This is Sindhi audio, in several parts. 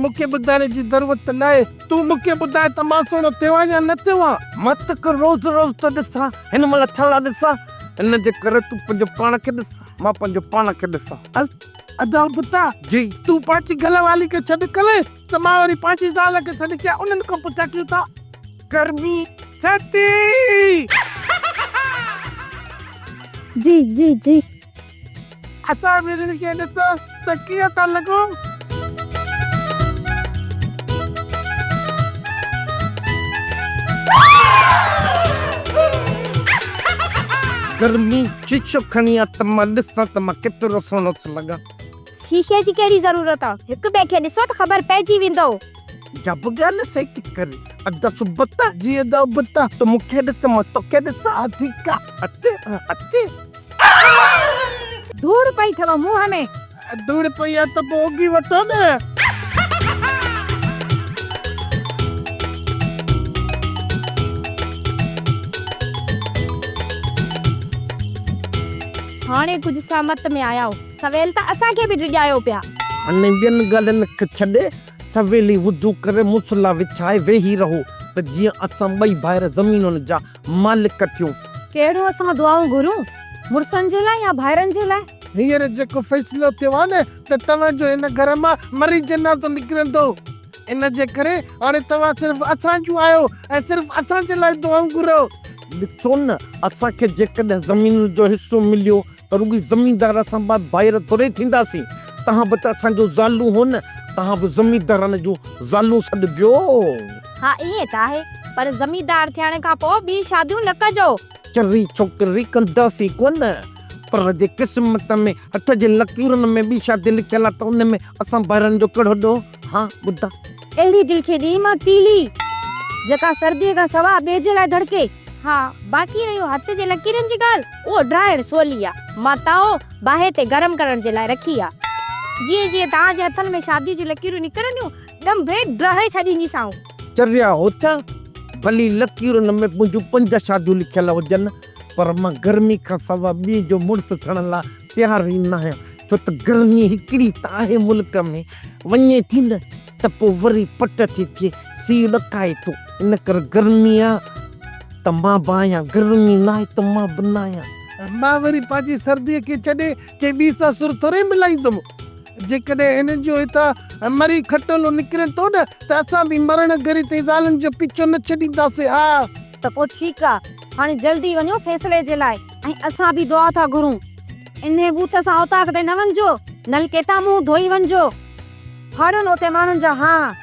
مون کي ٻڌائڻ جي ضرورت ته ناهي، تون مون کي ٻڌاء ته مان سهڻو ٿيو آهيان يا نه ٿيو آهيان؟ مان توکي روز روز ٿو ڏسان، هن مهل ڇالاء ڏسان؟ ان جي ڪري تون پنهنجو پاڻ کي ڏس، مان پنهنجو پاڻ کي ڏسان. ادا بتا، جي تون پنهنجي گهر واري کي ڇڏ ڪرين ته مان وري پنهنجي زال کي ڇڏ ڪيان، انهن کان پڇان ڪيئن ٿا؟ گرمي ڇٽي! جي جي جي. اسان ويرين کي ڏٺو ته ڪيئن ٿا لڳون. گرمي شيشو کڻي آ ته مان ڏسان ته مان ڪيترو سهڻو ٿو لڳان. شيشي جي ڪهڙي ضرورت آ. هڪ ٻئي کي ڏسو ته خبر پئجي ويندو. جا به ڳالهه سهي ٿي ڪرين. ادا سبتا جي ادا ابتا. تون مون کي ڏس ته مان توکي ڏسان. اڌيڪا اچ اچ. ڌوڙ پئي ٿئو منهن ۾. ڌوڙ پئي آهي ته پوء اگهي وٺو نه. هاڻي ڪجهه سهمت ۾ آيائو. سويل ته اسان کي به ڊڄايو پيا. هاڻي ٻين ڳالهين کي ڇڏي سويل ئي وضو ڪري مصليٰ وڇائي ويهي رهو ته جيئن اسان ٻئي ڀائر زمينن جا مالڪ ٿيون. ڪهڙو اسان دعائون گهرون؟ مڙسن جي لاء يا ڀائرن جي لاء؟ هينئر جيڪو فيصلو ٿيو آهي نه ته توهان جو هن گهر مان مري جنازو نڪرندو. ان جي ڪري هاڻي توهان صرف اسان جون آهيو ۽ صرف اسان جي لاء دعائون گهرو. ڏسو نه اسان کي جيڪڏهن زمين جو حصو مليو ته رڳي زميندار اسان بعد ڀائر ٿورئي ٿينداسين، تهان به ته اسان جون زالون هو نه، تهان به زميندارن جون زالون سڏبيو. ها ائين ته آهي، پر زميندار ٿيڻ کان پوء ٻيون شاديون نه ڪجو. چري ڇوڪري ڪنداسين ڪونه، پر جي قسمت ۾ هٿ جي لڪيرن ۾ ٻي شادي لکيل آ ته ان ۾ اسان ڀائرن جو ڪهڙو ڏوهه؟ ها ٻڌ. اهڙي دل کي ڏي مان تيلي. جيڪا سرديء کان سواء ٻئي جي لاء ڌڙڪي. ها باقي رهيو هٿ جي لڪيرن جي ڳالهه. اهو ڊاهڻ سولي آ. مان تائو باهه تي گرم ڪرڻ جي لاء رکي آ. جيئن جيئن توهان جي هٿن ۾ شاديء جون لڪيرون نڪرنديون، ڏنڀي ڊاهي ڇڏينديسانو. چريا هٿ، ڀلي لڪيرن ۾ منهنجون پنج شاديون لکيل هجن، پر مان گرمي کان سواء ٻئي جو مڙس ٿيڻ لاء تيار ئي ناهيان ڇو ته گرمي هڪڙي ته آهي ملڪ ۾ وڃي ٿي نه ته پوء وري پٽ ٿي ٿئي سي ڏڪائي ٿو ان ڪري گرمي آهي ته مان به آهيان گرمي ناهي ته مان به ناهيان. مان وري پنهنجي سردي کي ڇڏي ڪنهن ٻي سان سر ٿوري ملائيندم جيڪڏهن هنن جو هتان مري کٽولو نڪري ٿو نه ته اسان به مرڻ گهري تائين زالن جو پيڇو نه ڇڏينداسين آء. ته پوء ٺيڪ آهي هاڻي جلدي وڃو فيصلي جي لاء. ۽ اسان به دعا ٿا گهرون. انهيء بوت سان اوطاق تي نه وڃجو، نلڪي تان منهن ڌوئي وڃجو. ڦاڙهين اوتي ماڻهن جا هاء.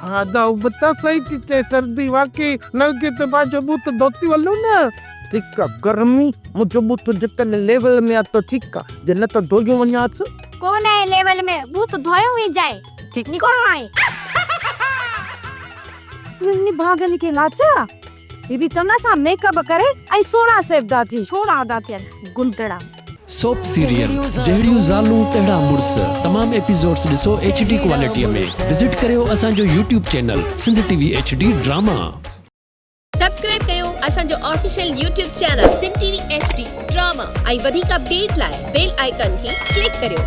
ها دا هو بتا سائين ٿي چئي سردي واقعي نلڪي تي پنهنجو بوت ڌوتي هلون نه. ٺيڪ آ گرمي منهنجو بوت جيڪڏهن ليول ۾ آ ته ٺيڪ آ جي نه ته ڌوئي وڃانس. ڪو نه اهي ليول ۾ بوت ڌوئي وينجائي. ٺيڪ نڪو هاڻي. نڀاڳن کي لاچار آ. هي به چڱا سا ميڪ اپ ڪري ۽ سهڻا سيبدا ٿي. سهڻا ادا ٿين گندڙا. سوپ سيريل جهڙيون زالون تهڙا مڙس تمام ايپيسوڊس ڏسو ايڇ ڊي ڪوالٽيء ۾ وزٽ ڪريو اسان جو YouTube channel Sindh T V H D drama. Subscribe ڪيو اسان جو official YouTube channel Sindh T V H D drama ۽ وڌيڪ اپڊيٽ لاء بيل آئيڪان کي ڪلڪ ڪريو.